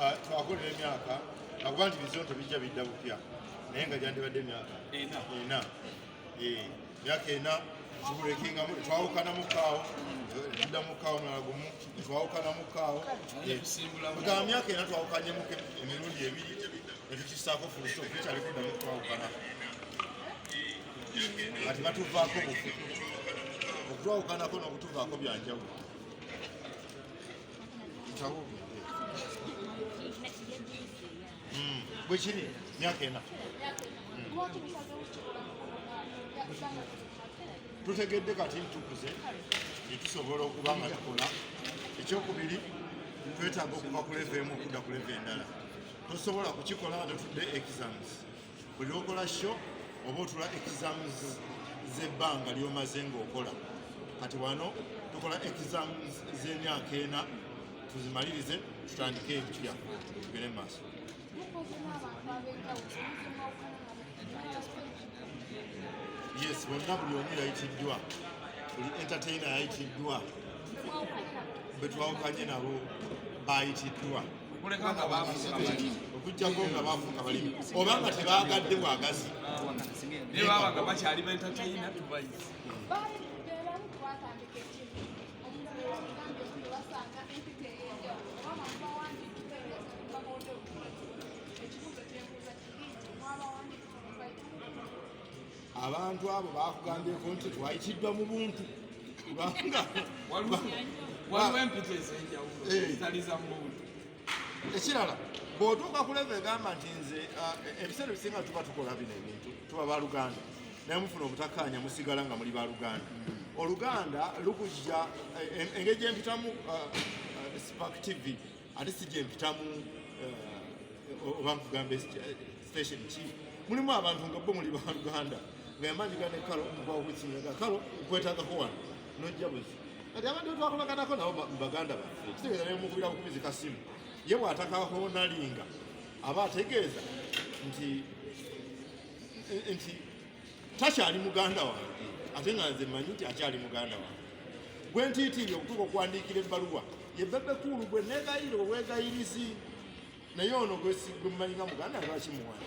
ah, twakolera emyaka akuba nti bizonto bijja bidda bupya naye nga gyandibadde emyaka ena eh, myaka ena tubulekingamu twawukanamu kaawo tuddamu kaawo mulala gumu twawukanamu kaawo eh, ga myaka ena twawukanyemu emirundi ebiri netukisaako fuluso tukyali kuddamu twawukana kati batuvaako bufu okutwawukanako n'okutuvaako byanjawulo Mm. Bwekiri myaka ena tutegedde kati ntukuze netusobola okuba nga tukola ekyokubiri twetaaga okuva ku leve emu okudda ku leve endala tosobola kukikola nga totudde exams buli lwokola sho oba otula exams z'ebbanga lyomaze ng'okola kati wano tukola exams z'emyaka ena tuzimalirize tutandike ebitya tugere mu maaso yes bonna buli omu yayitiddwa buli entertaina yayitiddwa betwawukanye nabo bayitiddwa okuleka nga baafuuka balimi okujjako nga baafuuka balimi oba nga tebaagadde bwagazi naye baba nga bakyali bentateyina tubayizi abantu abo bakugambyeko nti twayitiddwa mu buntu waliwo empita ezenjawulo eh. zitali za muntu ekirala bwotuuka ku leva egamba nti nze uh, ebiseera ebisinga tuba tukola bino ebintu tuba baluganda naye mufuna obutakkaanya musigala nga muli baluganda hmm. oluganda lukujja eh, engeri gyempitamu uh, uh, spark tv ate si gyempitamu oba nkugamba station ki mulimu abantu nga bo muli baluganda nga yamanyiga ne kalo mukwawo kukinyaga kalo nkwetagako wano nojja buzi kati abantu betwakolaganako nabo baganda baffe kitegeeza nemukubira bukubizi kasimu ye bwatakahonalinga aba ategeeza nti nti takyali muganda wange ate nga nze manyi nti akyali muganda wange gwe ntiitiiri okutuuka okuwandiikira ebbaluwa ye bebe kuulu gwe negayira obwegayirizi naye ono gwesigwe mumanyi nga muganda lwaki muwana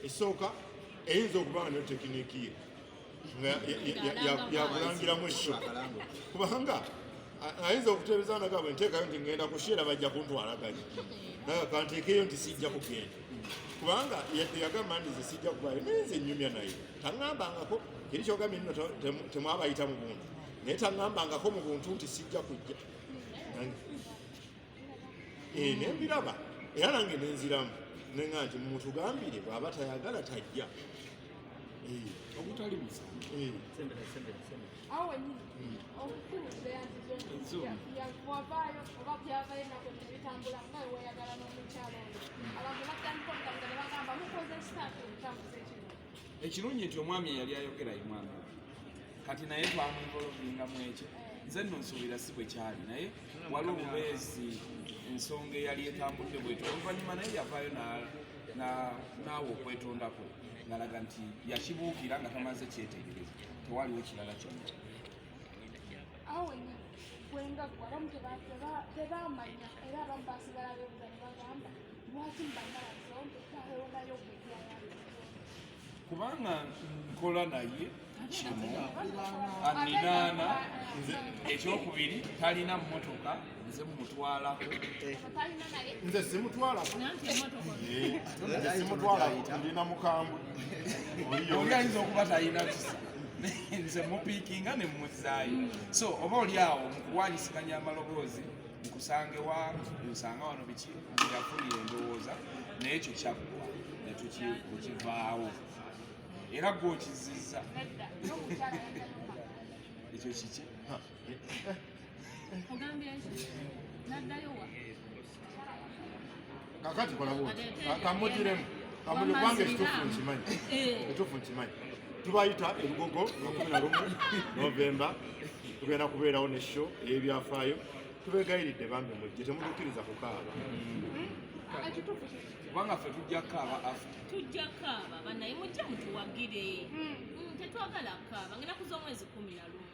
esooka eyinza okuba nga netekiniki ye yakulangiramu ekyo kubanga ayinza okuteebeza nagabwe nteekayo nti ngenda kushiera bajja kuntwalaganya naga kanteekeyo nti sijja kugenda kubanga yagamba ndize sijja kubayo naye nze nyumya naye taŋŋambangako teri kyogambye nno temwabayita mu buntu naye taŋŋambangako mu buntu nti sijja kujja eh, nembiraba era nange nenziramu nenga nti mutugambire bwaba tayagala tajja eh. ogutali eh. ekirungi nti omwami eyali ayogera ye mwami kati naye twamwevolovinga mu ekyo nze nno nsuubira si bwe kyali naye wali obubeezi ensonga eyali etambudde bwetyo oluvannyuma naye yavaayo naawe okwetondako ngalaga nti yakibuukira nga tamaze kyetegereza tewaliwo kirala kyonna kwengagwa abamu tebamanya era abamu basigala bebuza ne bagamba lwaki mubagala zonke tahewonayo gwekyayali kubanga nkola naye kimu aninaana nze ekyokubiri talina mmotoka nze mumutwalako nze simutwalako nze simutwalako ndina mukambwe oli ayinza okuba talina kisa nze mupiikinga ne mumuzaayo so oba oli awo mukuwanyisiganya amaloboozi nkusange wa nsanga wano biki yafunira endowooza naye ekyo kyaggwa netukivaawo era gwe okizizza ekyo kiki kakati kola bwoti kamutiremu kamuli kwange ekitufu nkimanyi ekitufu nkimanyi tubayita ebigogo makumi na lumu novemba tugenda kubeerawo ne sho eyebyafaayo tubegayiridde bambi mujje temutukiriza kukaaba kubanga fe tujja kaaba tujja kaaba banaye mujje mutuwagire hmm. Hmm, tetwagala kaaba ngenda kuza omwezi kumi na lumu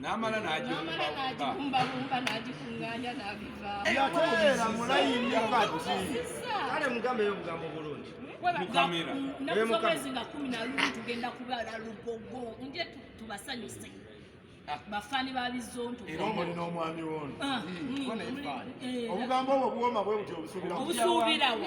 n'amala n'agikumbakumba n'agikunganya n'abivaako yateera mulayini kati kale mugambe yo obugambo bulungi mukamera nakusobezi nga kumi na lumu tugenda kubala lugogo nje tubasanyuse ah. bafani babizonto era omuli n'omwami wono ah, mm, mm, mm, eh. obugambo obwo buwoma bwe buti obusubirawo obusubirawo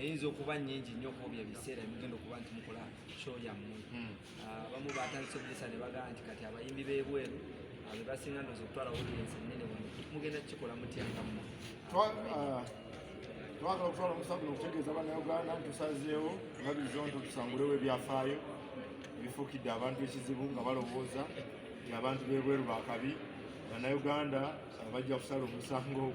eyinza okuba nyingi nnyo kuobyo ebiseera emugenda okuba nti mukola show yammwe hmm. ah, abamu batandise okugesa ne bagamba nti kati abayimbi b'ebweru ah, bebasinga ndoza okutwala audience enene wano mugenda kukikola mutya nga mmwe ah, twagala okutwala omusabu nokutegeeza banauganda ntusazeewo nga bizonto tusangulewo ebyafaayo ebifuukidde abantu ekizibu nga balowooza nti abantu b'ebweru bakabi banauganda bajja kusala omusango ogwo